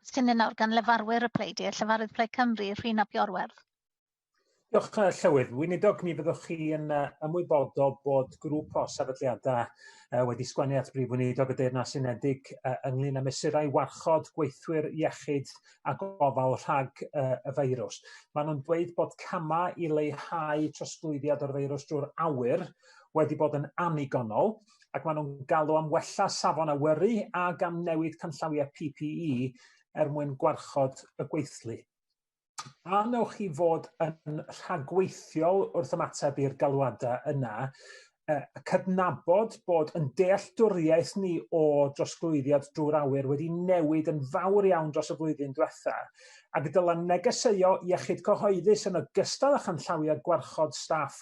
Cwestiynau nawr gan lefarwyr y pleidiau, llefarydd Plaid Cymru, Rhun ap Iorwerth. Diolch, uh, Llywydd. Weinidog, mi fyddwch chi yn uh, ymwybodol bod grŵp o sefydliadau uh, wedi sgwennu at Brif Weinidog y Deyrnas Unedig uh, ynglyn â mesurau warchod gweithwyr iechyd a gofal rhag uh, y feirws. Maen nhw'n dweud bod camau i leihau trosglwyddiad o'r feirws drwy'r awyr wedi bod yn annigonol, ac maen nhw'n galw am wella safon awyru ac am newid canllawiau PPE er mwyn gwarchod y gweithlu. A wnewch chi fod yn rhagweithiol wrth ymateb i'r galwadau yna, cydnabod bod yn dealltwriaeth ni o drosglwyddiad drwy'r awyr wedi newid yn fawr iawn dros y flwyddyn diwetha, ac y dylen negeseuo iechyd cyhoeddus yn ogystal â chanllawiau gwarchod staff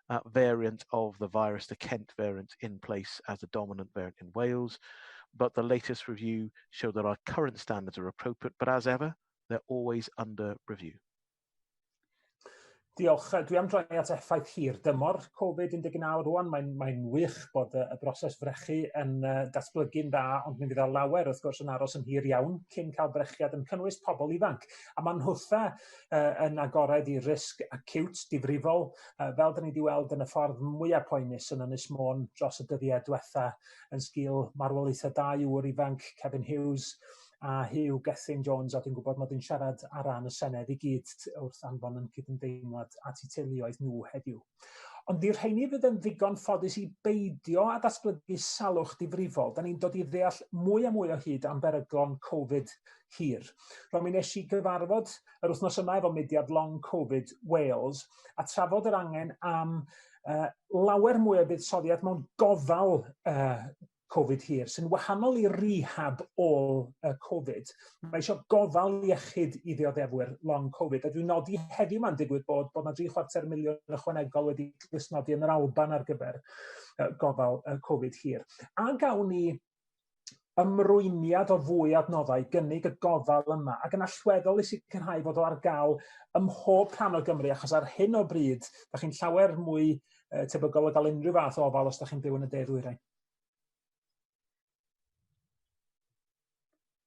variant of the virus, the Kent variant, in place as the dominant variant in Wales. But the latest review showed that our current standards are appropriate, but as ever, they're always under review. Diolch. Dwi am droi at effaith hir dymor Covid-19 rwan. Mae'n mae wych bod y broses frechu yn datblygu'n dda, ond mi fydd o lawer wrth gwrs yn aros yn hir iawn cyn cael brechiad yn cynnwys pobl ifanc. A mae'n nhwtha yn agored i risg acute, difrifol, uh, fel dyn ni wedi weld yn y ffordd mwyaf poenus yn Ynys Môn dros y dyddiau diwetha yn sgil marwolaethau dau ŵr ifanc, Kevin Hughes a Hugh Gethin Jones, a dwi'n gwybod mod i'n siarad ar ran y Senedd i gyd wrth anfon yn cydymdeimlad at eu teuluoedd nhw heddiw. Ond i'r rheini fydd yn ddigon ffodus i beidio a datblygu salwch difrifol, da ni'n dod i ddeall mwy a mwy o hyd am beryglon Covid hir. Rwy'n mi nes i gyfarfod yr wythnos yma efo mudiad Long Covid Wales a trafod yr angen am uh, lawer mwy o buddsoddiad mewn gofal uh, Covid hir, sy'n wahanol i rehab ôl y Covid. Mae eisiau gofal iechyd i ddioddefwyr long Covid, a dwi'n nodi heddiw mae'n digwydd bod bod yna 3 chwarter miliwn ychwanegol wedi glustnodi yn yr Alban ar gyfer gofal Covid hir. A gawn ni ymrwymiad o fwy adnoddau gynnig y gofal yma ac yn allweddol i sicrhau fod o ar gael ym mhob rhan o Gymru achos ar hyn o bryd da chi'n llawer mwy uh, tebygol o gael unrhyw fath o ofal os da chi'n byw yn y de ddwyrain.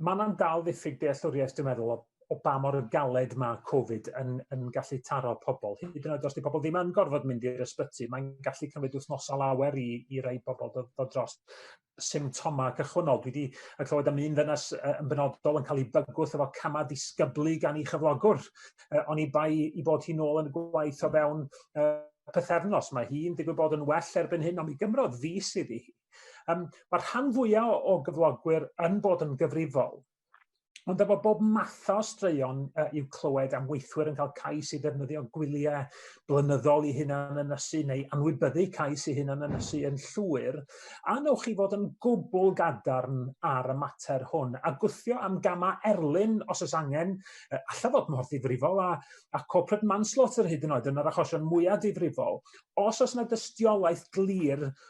mae yna'n dal ddiffyg dealltwriaeth, dwi'n meddwl, o, o ba mor galed mae Covid yn, yn gallu taro pobl. Hyd yn oed os di pobl ddim yn gorfod mynd i'r ysbyty, mae'n gallu cymryd wythnosau lawer i, i rai pobl dod, dod dros symptomau cychwynnol. Dwi wedi clywed am un ddynas yn benodol yn cael ei bygwth efo camau disgyblu gan ei chyflogwr. Uh, oni bai i bod hi'n ôl yn y gwaith o fewn uh, pythefnos. Mae hi'n digwydd bod yn well erbyn hyn, ond mi gymrodd fus iddi Um, mae rhan fwyaf o, o gyflogwyr yn bod yn gyfrifol, ond efo bob math o straeon uh, i'w clywed am weithwyr yn cael cais i ddefnyddio gwyliau blynyddol i hunan ynysu neu anwybyddu cais i hunan ynysu yn llwyr, a newch chi fod yn gwbl gadarn ar y mater hwn a gwthio am gamau erlyn os oes angen, uh, allaf fod mor ddifrifol a, a corporate manslaughter hyd yn oed yn yr achosion mwyaf difrifol, os oes yna dystiolaeth glir